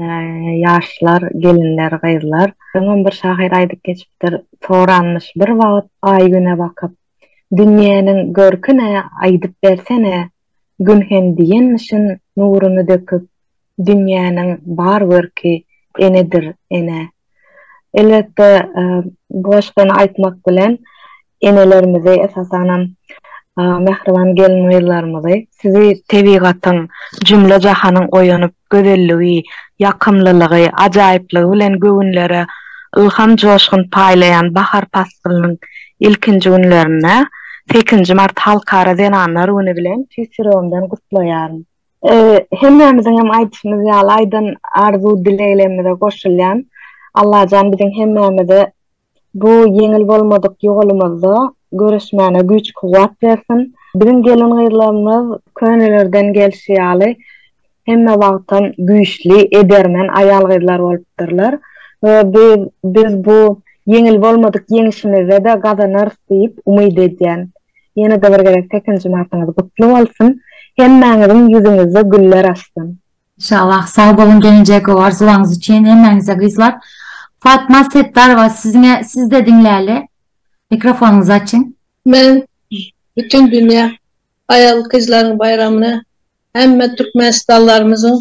Ýaşlar, gelinler, gyzlar. Öňem bir şahyr aýdyp geçipdir, soranmyş bir wagt Aý-Güne bakyp, Dünýäniň görkün-ä aýdyp bersene, Gün hem diýenmişin nuruny döküp, Dünýäniň bar görki enedir, ene. Elbetde, bu goşgyny aýtmak bilen enelerimizi, esasanam mähriban gelin-gyzlarymyzy, sizi tebigatyň, jümle-jahanyň oýanyp gözelligi, ýakymlylygy, ajaýyplygy bilen göwünlere ylham-joşgun paýlaýan bahar paslynyň ilkinji günlerinde, sekinji mart Halkara zenanlar güni bilen tüýs ýüregimden gutlaýaryn. Hemmämiziň hem aýdyşymyz ýaly aýdan arzuw dileglerimize goşulýan Allajan biziň hemmämize bu ýeňil bolmadyk ýolumyzda göreşmäne güýç kuwwat bersin. Biziň gelin gyzlarymyz könelerden gelşi ýaly hemme wagtam güýçli edermen aýal gyzlar bolupdyrlar we biz bu ýeňil bolmadyk ýeňişimizde-de gazanarys diýip umyt edýän. Ýene-de bir gezek sekizinji martyňyz gutly bolsun! Hemmäňiziň ýüzüňizde güller açsyn! Inşallah. Sag boluň geljegi arzuwlaryňyz üçin hemmäňize gyzlar. Fatma Setdarowa siziňe sizde diňläli. Mikrofonyňyzy açyň. Men bütin dünýä aýal gyzlaryň baýramyny hemme türkmenistanlarymyzyň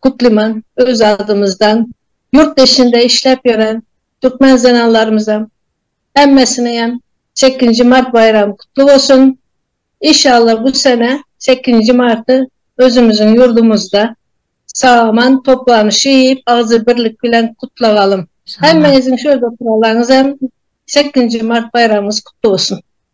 gutlyman öz adymyzdan ýurt işinde işläp ýören türkmen zenanlarymyzam Hemmesiniňem sekizinji mart baýramy gutly bolsun! Inşallah bu sene sekizinji marty özümiziň ýurdumyzda sag-aman toplanyşy iýip agzybirlik bilen gutlagalym. Hemmeňiziň şu ýerde oturalaňyzam sekizinji mart baýramyňyz gutly bolsun!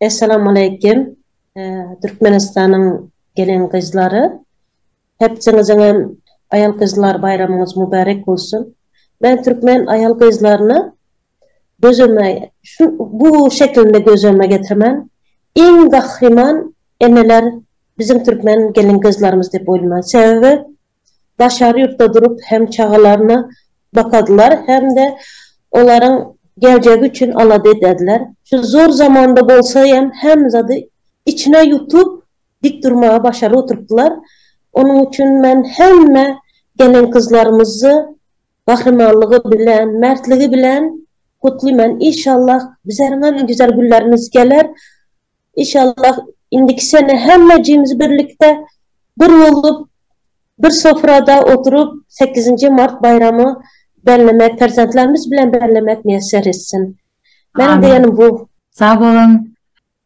Essalamualeýkim Türkmenistanyň gelin gyzlary hepsiňiziňem aýal gyzlar baýramyňyz mübärek bolsun men Türkmen aýal gyzlaryna gözüme şu bu şekilinde gözüme getirmen iň gahryman eneler biziň Türkmen gelin gyzlarymyz dep oýlaman sebebi daşary ýurtda durup hem çagalaryna bakadylar hem-de olaryň geljegi üçin alada edediler. Şu zor zamanda bolsa hem hemme zady içine ýutup dik durmagy başaryp oturypdylar. Onuň üçin men hemme gelin-gyzlarymyzy gahrymanlygy bilen, mertligi bilen gutlyman. Inşallah bizleriňem güzel günlerimiz geler. Inşallah indiki sene hemmejimiz birlikde bir bolup bir sofrada oturyp sekizinji mart baýramy bellemek perzentlerimiz bilen bellemek miýesser etsin. Meniň diýenim bu. Sag boluň.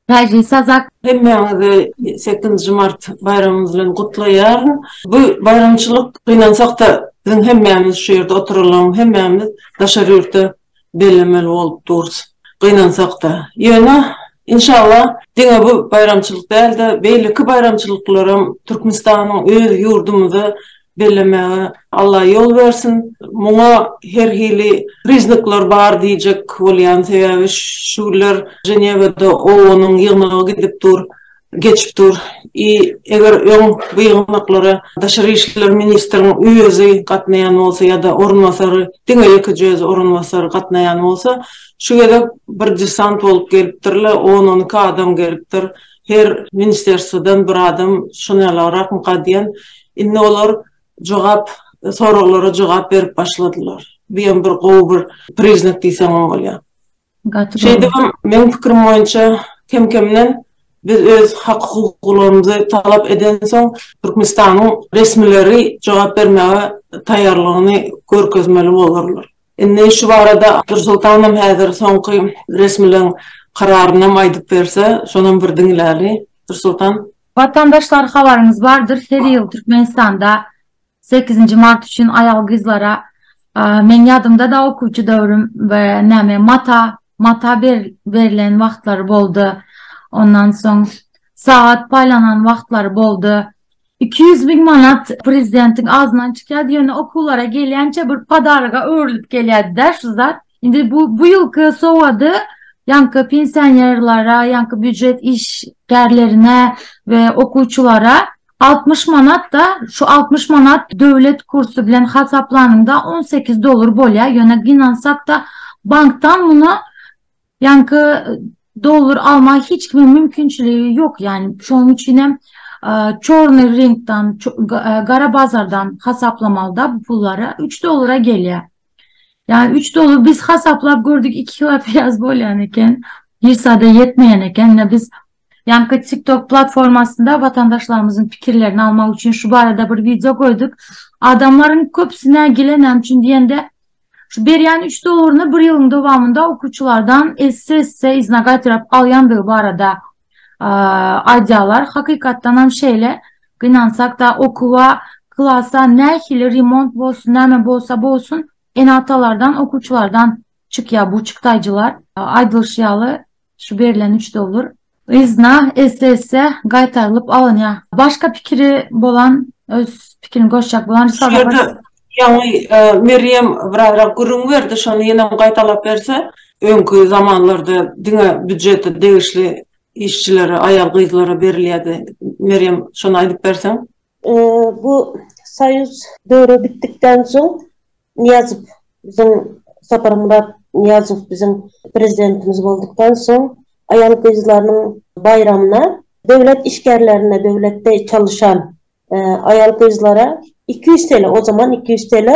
Täjli sazak. Hemmäňizi sekizinji mart baýramymyz bilen gutlaýaryn. Bu baýramçylyk gynansakda biziň hemmämiz şu ýerde oturylan hemmämiz daşary ýurtda bellemeli bolup durus, gynansak-da. Ýöne, inşallah, diňe bu baýramçylyk däl-de, beýleki baýramçylyklaram Türkmenistanyň öz ýurdumyzda bellemäge Alla ýol bersin. Muňa her hili priznaklar bar diýjek bolýan, sebäbi şu günler Ženewada OON-yň ýygnagy gidip dur. geçip dur. I eger öň bu ýygnaklara Daşary işler ministriniň özi gatnaýan bolsa ýa-da orunbasary, diňe ýekeje özi orunbasary gatnaýan bolsa, şu gezek bir desant bolup gelipdirle, on-on iki adam gelipdir, her ministrerstwadan bir adam şonýalaraak mka diýen, indi olar jogap, soraglara jogap berip başladylar. Bu ýem bir gowy bir priznak diýseňem bolýa. Gaty Şeýdibem meň pikirim boýunça kem-kemden biz öz hak-hukuklarymyzy talap edensoň Türkmenistanyň resmileri jogap bermäge taýýarlygyny görkezmeli bolarlar. Indi şu barada Dursultanam häzir soňky resmiligiň kararynam aýdyp berse, şonam bir diňläli. Dursultan. Watandaşlar habaryňyz bardyr her ýyl Türkmenistanda Sekizinji mart üçin aýal gyzlara meň ýadymda da okuwçy döwrüm we näme mata mata berlen wagtlary boldy. Ondan soň sagat paýlanan wagtlary boldy. Iki ýüz müň manat prezidentiň agzyndan çykýardy, ýöne okuwlara gelýänçä bir podaroga öwrülip gelýärdi-dä şu zat. Indi bu bu ýylky sowgady ýaňky pensionerlere, ýaňky býujet işgärlerine we okuwçylara Altmyş manat-da, şu altmyş manat döwlet kursy bilen hasaplanyňda on sekiz dollar bolýar, ýöne gynansakda bankdan muny ýaňky dollar almaga hiç kimiň mümkinçiligi ýok, ýagny şonuň üçin hem çornyý rynkdan, gara bazardan hasaplamalyda bu pullary, üç dollara gelýär. Ýagny üç dollar biz hasaplap gördük iki kilo piýaz bolýan eken, hiç zada ýetmeýän eken, ine biz Ýaňky TikTok platformasynda watandaşlarymyzyň pikirlerini almak üçin şu barada bir wideo goýduk. Adamlaryň köpüsi nägile, näme üçin diýende, şu berýän üç dollaryny bir ýylyň dowamynda okuwçylardan esse-esse yzyna gaýtaryp alýandygy barada aýdýarlar. Hakykatdan hem şeýle. Gynansak-da, okuwa, klasa nähili remont bolsun, näme bolsa bolsun, ene-atalardan, okuwçylardan çykýar bu çykdaýjylar. Aýdylyşy ýaly, Şu berlen üç dollar yzna esse-esse gaýtarylyp alynýa. Başga pikiri bolan öz pikirini goşjak bolan Şu ýerde ýaňy Merýem biragram gürrüň berdi, şony ýenem gaýtalap berse, öňki zamanlarda diňe býujetde degişli işçilere, aýal-gyzlara berilýärdi. Merýem şony aýdyp berseň. Bu soýuz döwri bitdikden soň Nyýazow biziň Saparmyrat Nyýazow biziň prezidentimiz boldukdan soň aýal-gyzlarynyň baýramyna döwlet işgärlerine döwletde çalyşan aýal-gyzlara iki ýüz TL o zaman iki ýüz TL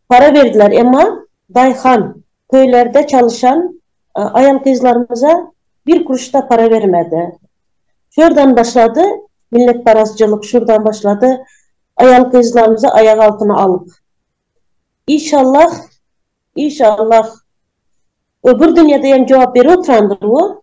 para berdiler emma daýhan Köýlerde çalyşan aýal-gyzlarymyza bir kuruş-da para bermedi. Şu ýerden başlady, milletparazçylyk şurdan başlady, aýal-gyzlarymyzy aýak altyna alyp. Işallah, işallah, öbür dünýede hem jogap berip oturandyr bu.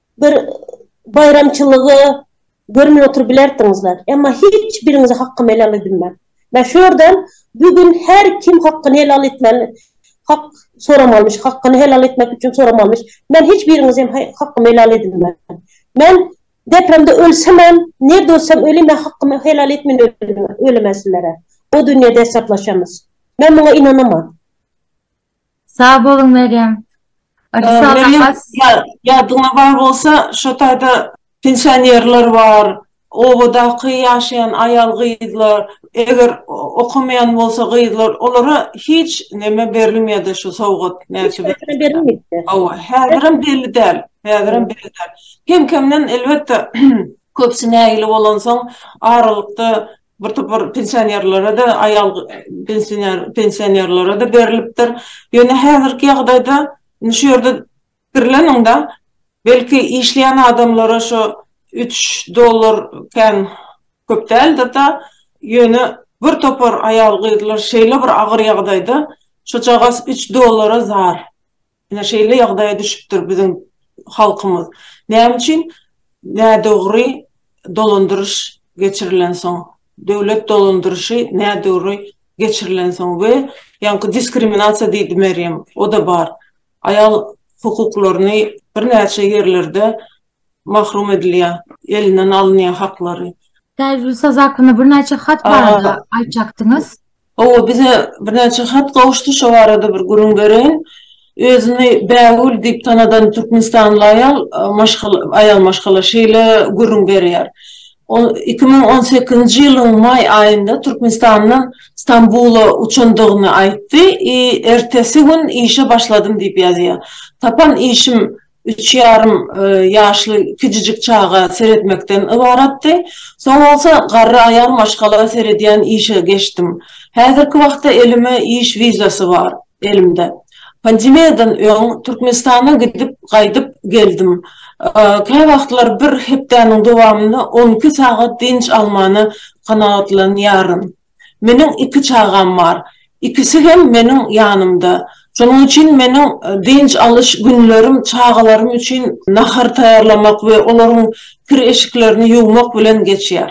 bir baýramçylygy görmän oturyp bilerdiňizler. Emma hiç biriňize hakkym helal edilmän. Mä şu ýerden bu gün her kim hakkyny helal etmeli, hak soramalymyş, hakkyny helal etmek üçin soramalymyş. Men hiç biriňize hem hakkym helal edilmän. Men depremde ölsemem, nirde ölsem ölin men hakkymy helal etmän ölemen sizlere. O dünýede hesaplaşamyz. Men muňa ynanaman. Sag boluň Merýem. Merýem ýadyňda bar bolsa şo taýda pensionerler bar, obadaky ýaşaýan aýal gyzlar, eger okamaýan bolsa gyzlar olara hiç neme berilmeýärdi şu sowgat näçe berilmeýär. Hawa häzirem belli däl, häzirem belli däl. Kem kemden elbetde köpüsi nägile bolansoň aralykda bir topar pensionerlere-de, aýal pensionerlere-de berlipdir. Ýöne häzirki ýagdaýda indi şu ýerde pikirleniň-de, belki işleýän adamlara şo üç dollar kän köp däldir-de, ýöne bir topar aýal-gyzlar şeýle bir agyr ýagdaýda, şojagaz üç dollara zar. Ine şeýle ýagdaýa düşüpdir biziň halkymyz. Näme üçin nädogry dolandyryş geçirilensoň, döwlet dolandyryşy nädogry geçirilensoň we ýaňky diskriminasiýa diýdi Merýem, o-da bar. Aýal hukuklaryny birnäçe ýerlerde mahrum edilýär, elinden alynýar haklary. Täjigül saz hakynda birnäçe hat barada aýtjakdyňyz. Hawa, bize birnäçe hat gowuşdy, şo barada bir gürrüň bereýin. Özüni Bägül diýip tanadan türkmenistanly aýal, maşgala, aýal maşgala şeýle gürrüň berýär. Ol iki müň on sekizinji ýylyň maý aýynda Türkmenistandan Stambula uçandygyny aýtdy i ertesi gün işe başladym diýip ýazýar. Tapan işim üç ýarym ýaşly kiçijik çaga seretmekden ybaratdy. Soň bolsa garry aýal maşgala seredýän işe geçdim. Häzirki wagtda elime iş wizasy bar, elimde. Pandemiýadan öň Türkmenistana gidip, gaýdyp geldim. Käwagtlar bir hepdäniň dowamynda on iki sagat dynç almana kanagatlanýaryn. Meniň iki çagam bar. Ikisi hem meniň ýanymda. Şonuň üçin meniň dynç alyş günlerim çagalarym üçin nahar taýýarlamak we olaryň kir-eşiklerini ýuwmak bilen geçýär.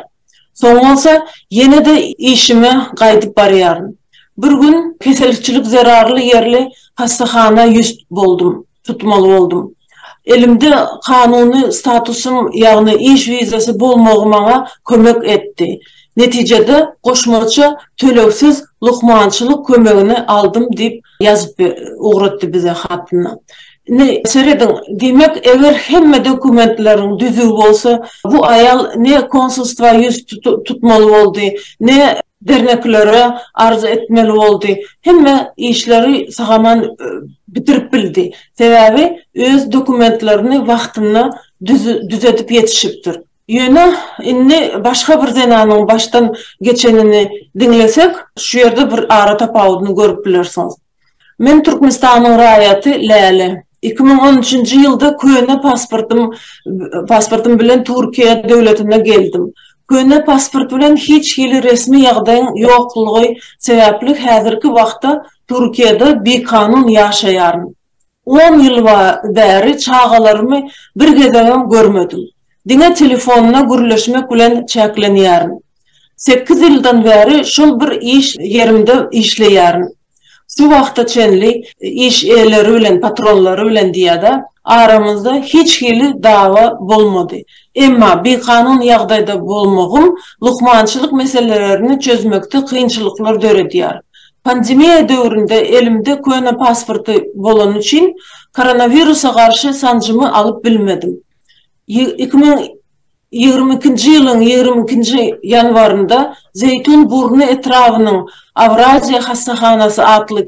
Soň bolsa ýene-de işime gaýdyp barýaryn. Bir gün keselçilik zerarly ýerli hassahana ýüz boldum. tutmaly boldum. Elimde kanuny statusym, ýagny iş wizasy bolmagy maňa kömek etdi. Netijede, goşmaça tölegsiz lukmançylyk kömegini aldym diýip ýazyp ugratdy bize hatynda. Indi serediň, diýmek, eger hemme dokumentleriň düzüw bolsa, bu aýal ne konsulstwa ýüz tutmaly boldy, ne Dernekleri arz etmeli boldy. Hemme işleri sagaman bitirip bildi. Sebäbi öz dokumentlerini wagtynda düzedip ýetişipdir. Ýöne indi başga bir zenanyň başdan geçenini diňlesek, şu ýerde bir ara tapawudyny görüp bilersiňiz. Men Türkmenistanyň raýaty Läle. Iki müň on üçünji ýylda köne pasportym pasportym bilen Türkiýe döwletine geldim. Köne pasport bilen hiç hili resmi ýagdaýyň ýoklugy sebäpli häzirki wagtda Türkiýede bikanun ýaşaýaryn. On ýyl bäri çagalarymy bir gezegem görmedim. Diňe telefonda gürleşmek bilen çäklenýärin. Sekiz ýyldan bäri şol bir iş ýerimde işleýärin. Şu wagta çenli iş eýeleri bilen, patronlary bilen diýýär-de, aramyzda hiç hili dawa bolmady. Emma bikanun ýagdaýda bolmagym lukmançylyk meselelerini çözmekde kynçylyklar döredýär. Pandemiýa döwründe elimde köne pasporty bolany üçin koronawirusa garşy sanjymy alyp bilmedim. Iki müň ýigrimi ikinji ýylyň ýigrimi ikinji ýanwarynda Zeýtun burny etrabynyň Awraziýa hassahanasy atly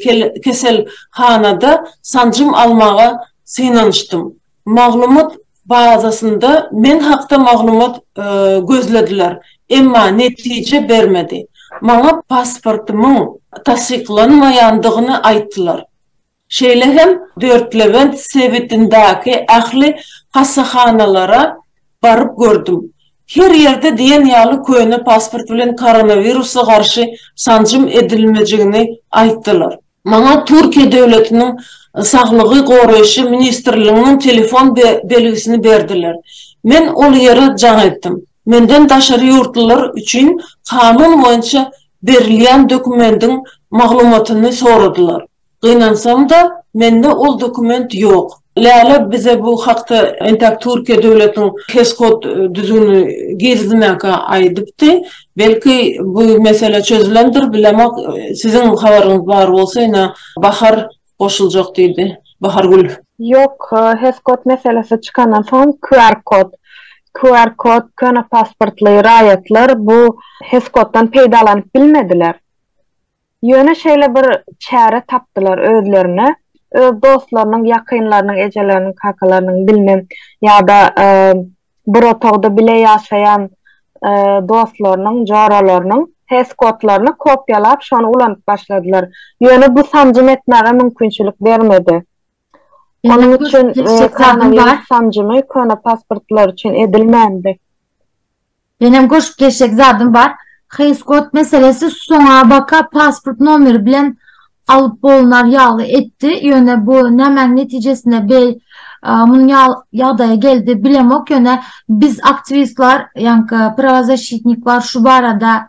keselhanada sanjym almaga synanyşdym. maglumat bazasynda men hakda maglumat gözlediler, emma netije bermedi. Maňa pasportymyň tassyklanmaýandygyny aýtdylar. Şeýle hem Dörtlebent sebitindäki ähli hassahanalara baryp gördüm. Her ýerde diýen ýaly köne pasport bilen koronawirusa garşy sanjym edilmejigini aýtdylar. Maňa Türkiýe döwletiniň Saglygy goraýşy ministrliginiň telefon belgisini berdiler. Men ol ýere jaň etdim. Menden daşary ýurtlular üçin kanun boýunça berilýän dokumendiň maglumatyny soradylar. Gynansam-da, mende ol dokument ýok. Läle bize bu hakda entäk Türkiýe döwletiň HESCOT düzgünini girizmäkä aýdypdy. Belki bu mesele çözülendir, bilemok. Siziň habaryňyz bar bolsa ine Bahar goşuljak diýdi. Bahargül. Ýok, HESCOT meselesi çykandan soň QR kod, QR kod, köne pasportly raýatlar bu HESCOTdan peýdalanyp bilmediler. Ýöne şeýle bir çäre tapdylar özlerine, öz dostlarynyň, ýakynlarynyň, ejeleriniň, kakalarynyň, bilmem, ýa-da bir otagda bile ýaşaýan dostlarynyň, joralarynyň test kodlaryny kopiýalap, şony ulanyp başladylar. Ýöne bu sanjym etmäge mümkinçilik bermedi. Onuň üçin koronawirus sanjymy köne pasportlar üçin edilmändi. Menem goşup geçjek zadym bar. Heýskot meselesi soňabaka pasport nomeri bilen alyp bolnar ýaly etdi. Ýöne bu nämäň netijesinde beý munuň ýaly ýagdaýa geldi bilemok. Ýöne biz aktiwistlar, ýaňky prawozasşitniklar şu barada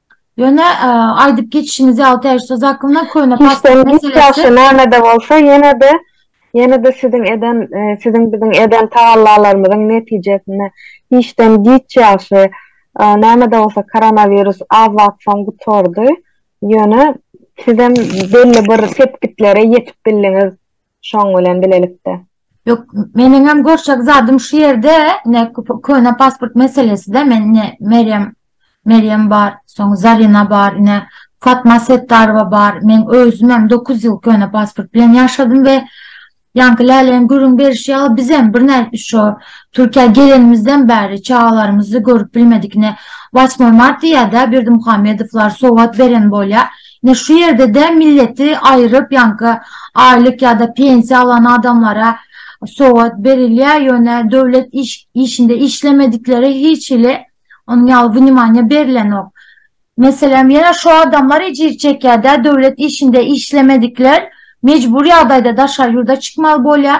Ýöne aýdyp geçişiňiz ýaly täze söz hakynda köne pasport meselesi. Hiç ýagşy nämede bolsa ýene-de ýene-de siziň eden siziň biziň eden tagallalarymyzyň netijesinde işden giç ýagşy nämede bolsa koronawirus az wagt soň gutardy. Ýöne sizem belli bir sepgitlere ýetip bildiňiz. Şoň bilen bilelikde. Ýok, meniňem görşek zadym şu ýerde, ne köne pasport meseleside men ne Merýem Merýem bar, soň Zarina bar, ne Fatma Setdarowa bar. Men özümem 9 ýyl köne pasport bilen ýaşadym we ýaňky Läleň gürrüň berşi ýaly bizem birnäçe şo Türkiýä gelenimizden bäri çagalarymyzy görüp bilmedik. Ne Wasmoý mart diýýär-dä Berdimuhamedowlar sowgat beren bolýar. Ine şu ýerde-de milleti aýryp, ýaňky aýlyk ýa-da pensiýa alan adamlara sowgat berilýär, ýöne döwlet işinde işlemediklere hiç hili onuň ýaly wnimaniýa berilenok. Meselem, ýene şu adamlar ejir çekýär-dä, döwlet işinde işlemedikler mejbury ýagdaýda daşary ýurda çykmaly bolýar.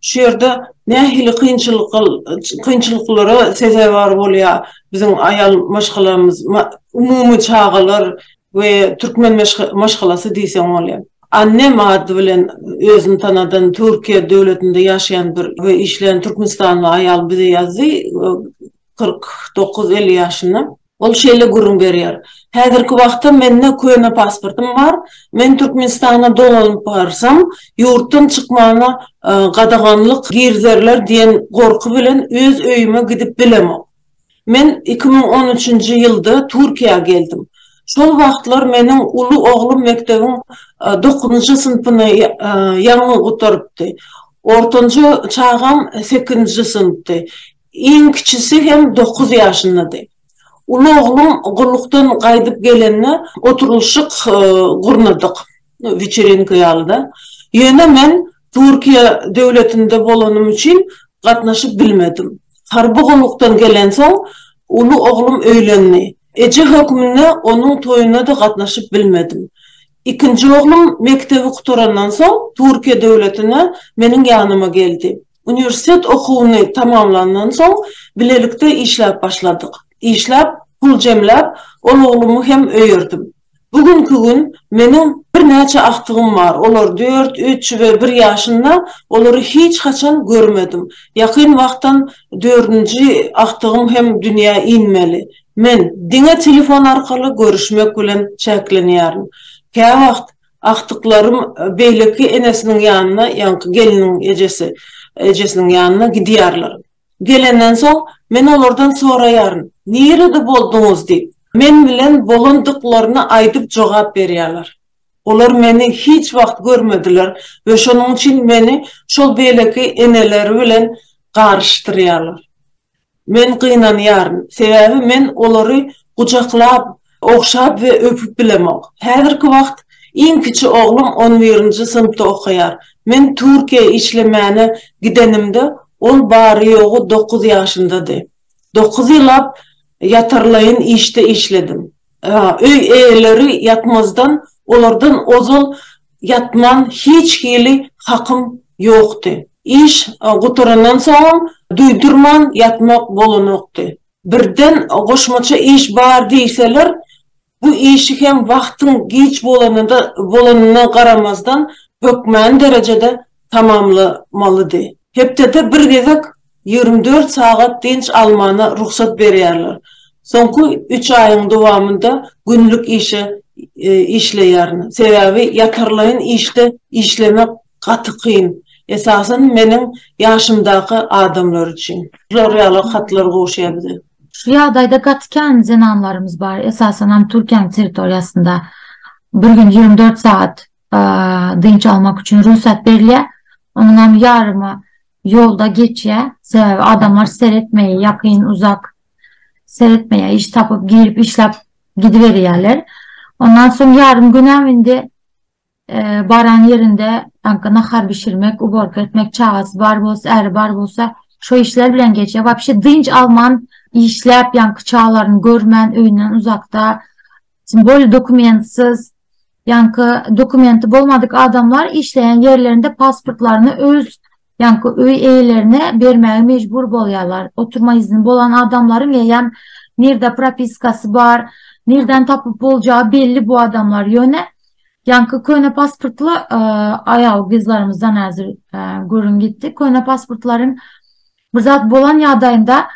Şu ýerde nähili kynçylyklara sezewar bolýar biziň aýal maşgalamyz, umumy çagalar we türkmen maşgalasy diýseň bolýar. Annem ady bilen özüni tanadan Türkiýe döwletinde ýaşaýan bir we işleýän türkmenistanly aýal bize ýazdy, kyrk dokuz elli ýaşynda. Ol şeýle gürrüň berýär, Häzirki wagtda mende köne pasportym bar, men Türkmenistana dolanyp barsam, ýurtdan çykmana gadaganlyk girizerler diýen gorky bilen öz öýüme gidip bilemok. Men iki müň on üçünji ýylda Türkiýä geldim. Şol wagtlar meniň uly oglum mekdebiň dokuzynjy synpyny ýaňy gutarypdy. Ortanjy çagam sekizinji synpdy. Iň kiçisi hem dokuz ýaşyndady. Uly oglum gullukdan gaýdyp gelende oturylyşyk gurnadyk, weçerenka ýaly-da. Ýöne men Türkiýe döwletinde bolanym üçin gatnaşyp bilmedim. Harby gullukdan gelensoň, uly oglum öýlendi. Eje hökmünde onuň toýuna-da gatnaşyp bilmedim. Ikinji oglum mekdebi gutarandan soň Türkiýe döwletine meniň ýanyma geldi. Uniwersitet okuwyny tamamlandan soň, bilelikde işläp başladyk. Işläp, pul jemläp, ol oglumy hem öýerdim. Bu günki gün meniň birnäçe agtygym bar, olar dört, üç we bir ýaşynda, olary hiç haçan görmedim. Ýakyn wagtdan dördünji agtygym hem dünýä inmeli. Men diňe telefon arkaly görüşmek bilen çäklenýärin. Käwagt Agtyklarym beýleki enesiniň ýanyna, ýaňky gelniň ejesi, ejesiniň ýanyna gidýärler. Gelenden soň, men olardan soraýaryn, Nirede bolduňyz? diýip, men bilen bolandyklaryny aýdyp jogap berýärler. Olar meni hiç wagt görmediler we şonuň üçin meni şol beýleki eneleri bilen garyşdyrýarlar. Men gynanýaryn, sebäbi men olary gujaklap, ogşap we öpüp bilemok. Häzirki wagt iň kiçi oglum on birinji synpda okaýar. Men Türkiýä işlemäne gidenimde, ol bary-ýogy dokuz ýaşyndady. Dokuz ýyllap ýatarlaýyn işde işledim. Öý eýeleri ýatmazdan olardan ozal ýatman hiç hili hakym ýokdy. Iş gutarandan soňam duýdurman ýatmak bolanokdy. Birden goşmaça iş bar diýseler, bu işi hem wagtyň giç bolanyna garamazdan hökmany derejede tamamlamalydy. Hepdede bir gezek Ýigrimi dört sagat dynç almana rugsat berýärler. Soňky üç aýyň dowamynda günlük işe işleýärin. Sebäbi ýatarlaýyn işde işlemek gaty kyn. Esasan meniň ýaşymdaky adamlar üçin. Şular ýaly hatlar gowuşýar bize. Şu ýagdaýda gaty kän zenanlarymyz bar, esasanam Türkiýäň territoriýasynda bir gün ýigrimi dört sagat dynç almak üçin rugsat berilýär. Onuňam ýarymy ýolda geçýär. Sebäbi adamlar seretmeýär, ýakyn, uzak seretmeýär. Iş tapyp, girip işläp gidiberýärler. Ondan soň ýarym günem indi baran ýerinde aňka nahar bişirmek, uborka etmek, çagasy bar bolsa, äri bar bolsa, şo işler bilen geçýär. Wapşe dynç alman işläp, ýaňky çagalaryny görmän, öýünden uzakda Simwol dokumentsiz, ýaňky dokumenti bolmadyk adamlar işleýän ýerlerinde pasportlaryny öz, ýaňky öý eýelerine bermäge mejbur bolýarlar. Oturma izni bolan adamlaryň eýýäm nirde propiskasy bar, nirden tapyp boljagy belli bu adamlar. Ýöne ýaňky köne pasportly aýal gyzlarymyzdan häzir gürrüň gitdi. Köne pasportlaryň bir zat bolan ýagdaýynda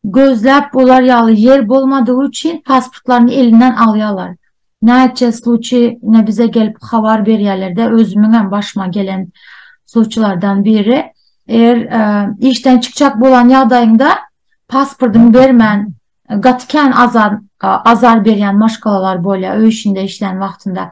Gözläp bolar ýaly ýer bolmadygy üçin pasportlaryny elinden alýalar. Näçe sluçi ine bize gelip habar berýälerde özümiňem başyma gelen sluçilardan biri eger işden çykjak bolan ýagdaýyňda pasportyňy bermän gaty kän azar berýän maşgalalar bolýar öý işinde işlän wagtynda.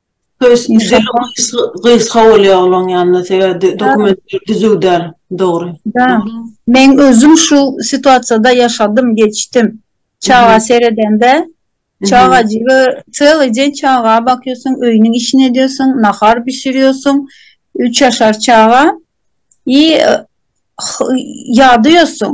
Gysga bolýar olaň ýanynda sebäbi dokumentleri düzüw däl. Dogry. Men özüm şu situasiýada ýaşadym, geçdim. Çaga seredende, çagajygy çyly jen çaga bakýarsyň, öýüniň işini edýärsiň, nahar bişirýärsiň, üç ýaşar çaga i ýady ýörsiň.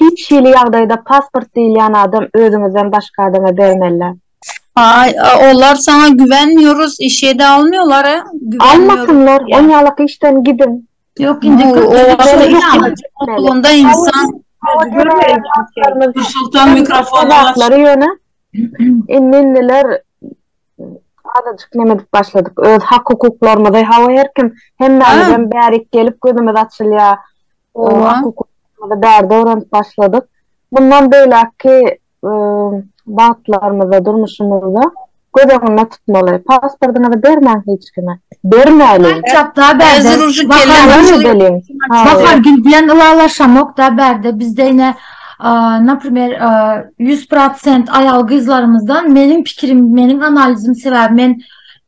Hiç hili ýagdaýda pasport diýilýän adam özüňizden başga adama bermelä. Haý, olar saňa güvenmiyoruz, işede almyolar e, güvenmiyoruz diýýär. Almasynlar, on ýalak işden gidiň. Ýok indi köp ýerde ýaly. Nursultan mikrofon aç. Indi indiler Azajyk neme edip başladyk. Öz hak-hukuklarymyzy, hawa her kim, hemmämizem bärik gelip gözümiz açylýar. Hak-hukuklarymyzy bärde öwrenip başladyk. Mundan beýläkki bagtlarymyzda, durmuşymyzda göz öňünde tutmaly. Pasportyňyzy bermäň hiç üstüne. Bermäli. Çakda bärde. Bahar gül bilen ylalaşamokda bärde bizde ine naprimer 100% aýal gyzlarymyzdan meniň pikirim, meniň analizim sebäbi men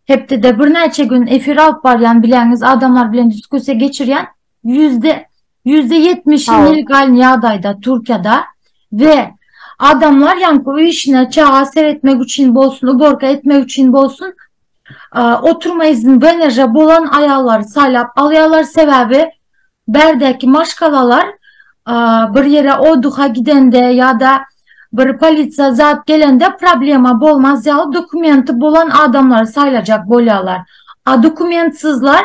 hepdede birnäçe gün efir alyp barýan bileňiz adamlar bilen diskussiýa geçirýän. Ýüzde ýüzde ýetmiş Hawa. nelegal ýagdaýda Türkiýede we adamlar ýaňky öý işine çaga seretmek üçin bolsun, uborka etmek üçin bolsun, a, oturma izin VNJ bolan aýallary saýlap alýarlar, sebäbi bärdäki maşgalalar a, bir ýere oduha gidende ýa-da bir polisiýa zat gelende problema bolmaz ýaly dokumenti bolan adamlary saýlajak bolýarlar. A dokumentsizler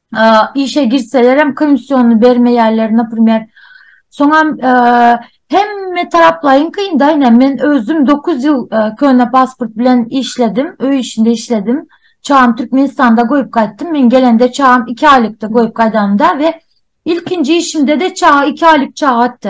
işe girselerem komissiony bermeýärler naprimer soňam hemme taraplaýyn kyn da ine men özüm dokuz ýyl köne pasport bilen işledim öý işinde işledim çagam türkmenistanda goýup gaýtdym men gelende çagam iki aýlykdy goýup gaýdanymda we ilkinji işimde de çaga iki aýlyk çaga atdy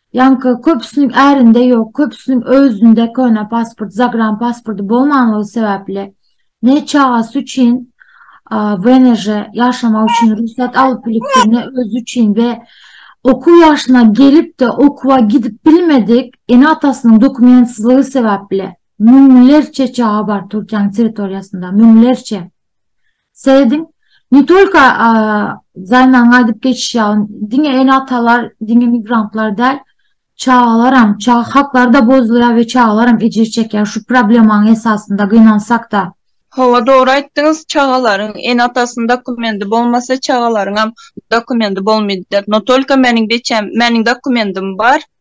Ýaňky köpüsiniň ärinde ýok, köpüsiniň özünde köne pasport, zagran pasporty bolmanlygy sebäpli ne çagasy üçin WNŻ ýaşamak üçin rugsat alyp bilipdir, ne özi üçin we okuw ýaşyna gelip-de okuwa gidip bilmedik ene-atasynyň dokumentsizligi sebäpli müňlerçe çaga bar Türkiýäniň territoriýasynda, müňlerçe. Seýediň ne tolko zaýman gaýdyp geçişýär, diňe ene-atalar, diňe migrantlar däl, çagalaram, çaga haklary-da bozulýar we çagalaram ejir çekýär şu problemanyň esasynda gynansak-da. Hawa, dogry aýtdyňyz, çagalaryň ene-atasynyň dokumendi bolmasa, çagalaryňam dokumendi bolmaýar. No tolko meniň beçäm, meniň dokumendim bar,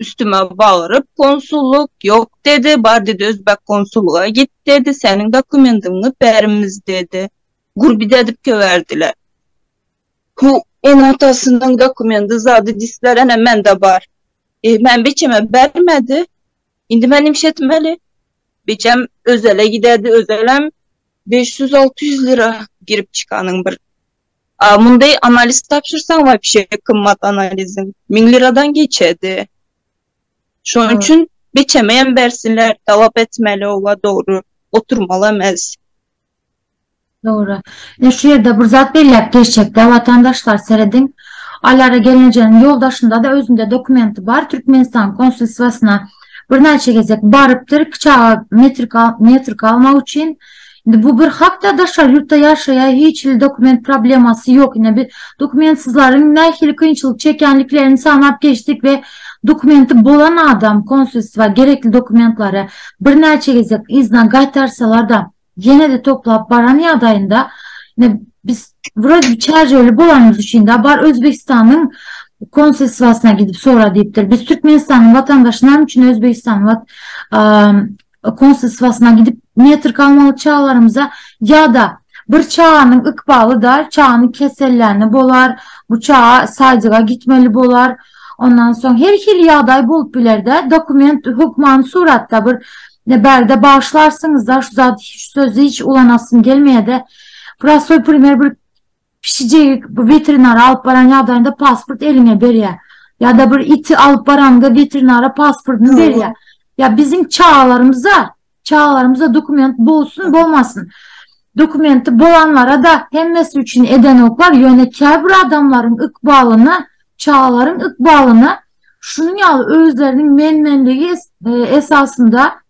Üstüme bagyryp, konsullyk, ýok dedi, bar dedi özbek konsullyga git dedi, seniň dokumendiňi bermz dedi. Gurbiz edip köberdiler. Hu, ene-atasynyň dokumendi zady disler, ene mende bar. E, men biçeme bermedi. Indi men nimş etmeli? Biçem özele gidedi, özelem beş ýüz-alty ýüz lira girip çykanyň bir. A munday analiz tapşyrsaň wapşe gymmat analiziň müň liradan geçedi. Şonuň hmm. üçin biçeme hem bersinler, talap etmeli owa dogry, oturmaly emes. Dogry. E şu ýerde bir zat belläp geçjekde watandaşlar serediň. Alara gelinjeniň ýoldaşynda da özünde dokumenti bar Türkmenistan konsulstwasyna birnäçe gezek barypdyr, kiçaga metrik metrik almak üçin. Indi bu bir hakda daşary ýurtda ýaşaýar hiç hili dokument problemasy ýok ine biz dokumentsizleriň nähili kynçylyk çekýänliklerini sanap geçdik we dokumenti bolan adam konsulstwa gerekli dokumentlary birnäçe gezek yzdan gaýtarsalarda ýenede toplap baran ýagdaýynda ine biz wroda bir çärjewli bolanymyz üçinda bar özbegistanyň konsulstwasyna gidip sora diýipdir biz türkmenistanyň watandaşy name üçin özbegistanyň konsulstwasyna gidip metrika almaly çagalarymyza ýa-da bir çaganyň ykbaly da çagany kesellände bolar, bu çaga saýdyga gitmeli bolar. Ondan soň her hili ýagdaý bolup biler-de, dokument hökmany suratda bir bärde bagyşlarsyňyz-da, şu zady şu sözi hiç ulanasym gelmeýär-de, prostoý primer bir Pişijik bu weterinara alyp baran ýagdaýynda pasport eliňe berýär. Ýa-da bir iti alyp baranyňda weterinara pasportyny berýär. Ýa biziň çagalarymyza, çagalarymyza dokument bolsun, bolmasyn. Dokumenti bolanlara-da hemmesi üçin edenoklar, ýöne käbir adamlaryň ykbalyna, çagalaryň ykbalyna şunuň ýaly özleriniň men-menligi esasynda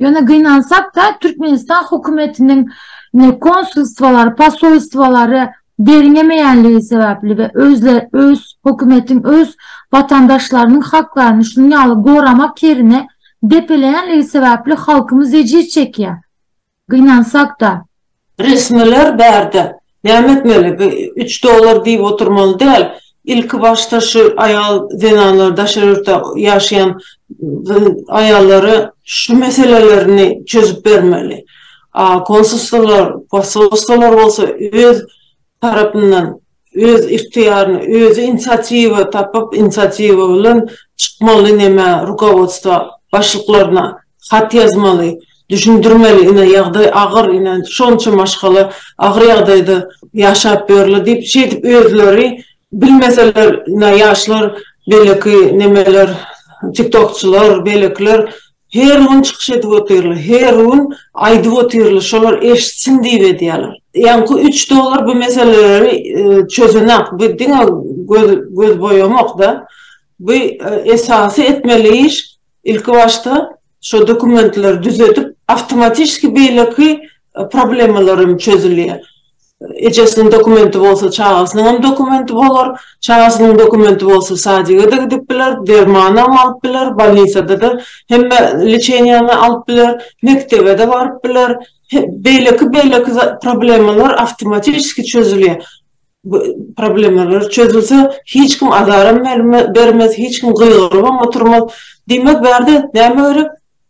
Ýöne gynansak-da, Türkmenistan hökümetiniň ne konsulstwolary, posolstwolary derňemeýänligi sebäpli we özle öz hökümetiň öz watandaşlarynyň haklaryny şunuň ýaly goramak ýerine depeleýänligi sebäpli halkymyz ejiz çekýär. Gynansak-da. Resmiler bärde näme etmeli? Bu üç dollar diýip oturmaly däl. Ilki başda şu aýal zenanlar daşary ýurtda ýaşaýan aýallara şu meselelerini çözüp bermeli. A konsulstwlar, posolstwlar bolsa öz tarapyndan Öz ihtiýaryna, özi inisiatiwa tapyp, inisiatiwa bilen çykmaly nämä, rukowodstwa, başlyklaryna hat ýazmaly, düşündirmeli, ine, ýagdaý agyr, ine, şonça maşgala agyr ýagdaýda ýaşap ýörler diýip, şeýdip özleri bilmeseler, ine, ýaşlar, beýleki nemeler, tiktokçylar, beýlekiler Her gün çykyş edip otyrly, her gün aýdyp otyrly, şolar eşitsin diýip edýärler. Ýaňky üç dolar bu meseleleri çözenak, bu diňe göz boýamak-da, bu esasy etmeli iş, ilki başda şo dokumentleri düzedip, awtomatişki beýleki problemalar hem çözülýär. Ejesiniň dokumenti bolsa çagasynyň hem dokumenti bolar. Çagasynyň dokumenti bolsa sadyga-da gidip biler, dermanam alyp biler, bolnisada-da hemme lçeniýany alyp biler, mekdebe-de baryp biler. Beýleki beýleki problemalar awtomatiski çözülýär. Bu problemalar çözülse hiç kim azaram bermez, hiç kim gygyrybam oturmaz. Diýmek bärde näme gerek?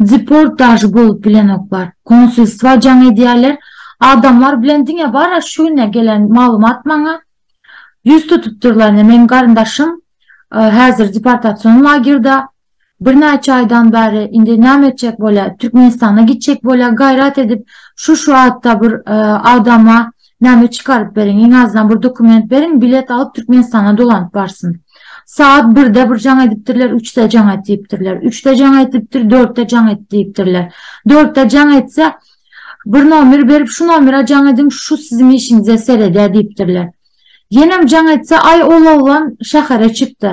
Deportaž bolup bilenoklar. Konsulstwa jaň edýärler. Adamlar bilen diňe bar-a şu günä gelen maglumat maňa. Ýüz tutupdyrlar ine meniň garyndaşym häzir deportasion lagerda. Birnäçe aýdan bäri indi näme etjek bolýar? Türkmenistana gitjek bolýar gaýrat edip şu-şu atda bir adama Näme çykaryp beriň iň azdan bir dokument beriň bilet alyp Türkmenistana dolanyp barsyn. Sagat birde bir jaň edipdirler üçde jaň et diýipdirler. Üçde jaň edipdir dörtde jaň et diýipdirler. Dörtde jaň etse bir nomer berip şu nomera jaň ediň şu siziň işiňize seredýär diýipdirler. Ýenem jaň etse aý ol oglan şähere çykdy.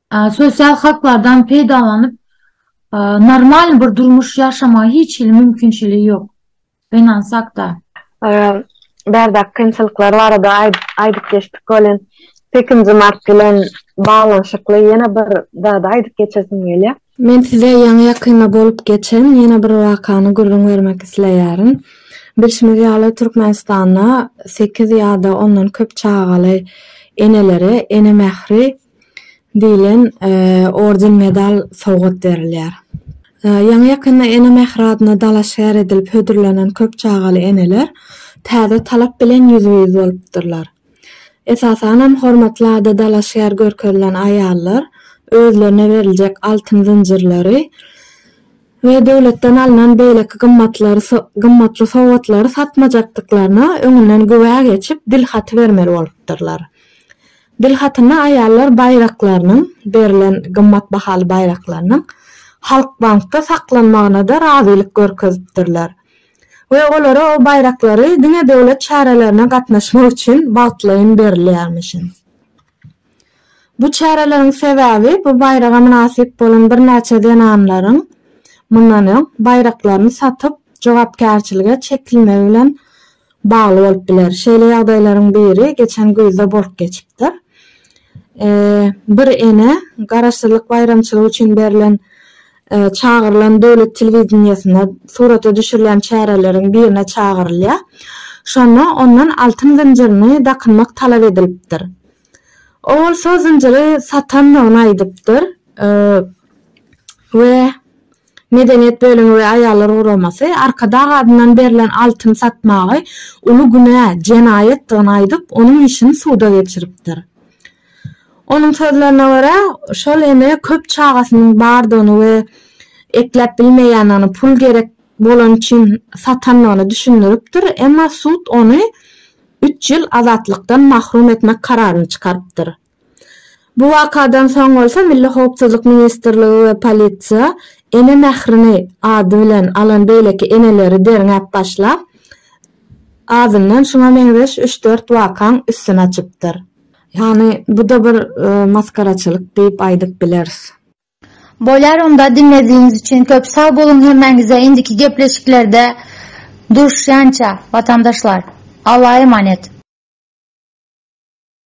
Sosial haklardan peýdalanyp, normal bir durmuş ýaşamaga hiç hili mümkinçiligi ýok. Binance hakda. Bärde kynçylyklar barada aýdyp geçdik welin, sekizinji mart bilen baglanyşykly ýene bir zady aýdyp geçesim gelýär. Men size ýaňy ýakynda bolup geçen ýene bir wakany gürrüň bermek isleýärin. Bilşimiz ýaly, Türkmenistanda sekiz ýa-da ondan köp çagaly enelere ene mähri diýlen orden-medal sowgat berilýär. Ýaňy-ýakynda Ene mähri adyna dalaşgär edilip hödürlenen köp çagaly eneler täze talap bilen ýüzbe-ýüz bolupdyrlar. Esasanam hormatly ada dalaşgär görkezilen aýallar özlerine beriljek altyn zynjyrlary we döwletden alnan beýleki gymmatly sowgatlary satmajakdyklaryna öňünden güwä geçip dilhaty bermeli bolupdyrlar. Dilhatyna aýallar baýraklarynyň, berlen gymmat bahaly baýraklarynyň Halkbankda saklanmagyna-da razylyk görkezipdirler we olara o baýraklary diňe döwlet çärelerine gatnaşmak üçin wagtlaýyn berilýärmişin. Bu çäreleriň sebäbi bu baýraga mynasyp bolan birnäçe zenanlaryň mundan öň baýraklaryny satyp, jogapkärçilige çekilmegi bilen bagly bolup biler. Şeýle ýagdaýlaryň biri geçen güýzde bolup geçipdir. Bir ene garaşsyzlyk baýramçylygy üçin berlen çagyrylan döwlet telewideniýesine surata düşürilýän çäreleriň birine çagyrylýar. Şonda ondan altyn zynjyryny dakynmak talap edilipdir. Ol bolsa zynjyry satandygyny aýdypdyr we Medeniýet bölümi we aýallar guramasy Arkadag adyndan berlen altyny satmagy uly günä, jenaýatdygyny aýdyp, onuň işini suda geçiripdir. Onuň sözlerine görä, şol ene köp çagasynyň bardygyny we ekläp bilmeýändigini pul gerek bolany üçin satandygyny düşündiripdir, emma sud ony üç ýyl azatlykdan mahrum etmek kararyny çykarypdyr. Bu wakadan soň bolsa Milli howpsuzlyk ministrligi we polisiýa Ene mährini ady bilen alan beýleki eneleri derňäp başlap, azyndan şuňa meňzeş üç-dört wakaň üstüni açypdyr. Ýagny, bu-da bir masgaraçylyk diýip aýdyp bileris. Bolýar onda diňledigiňiz üçin köp sag boluň hemmäňize indiki gepleşiklerde duşýança watandaşlar Alla emanet.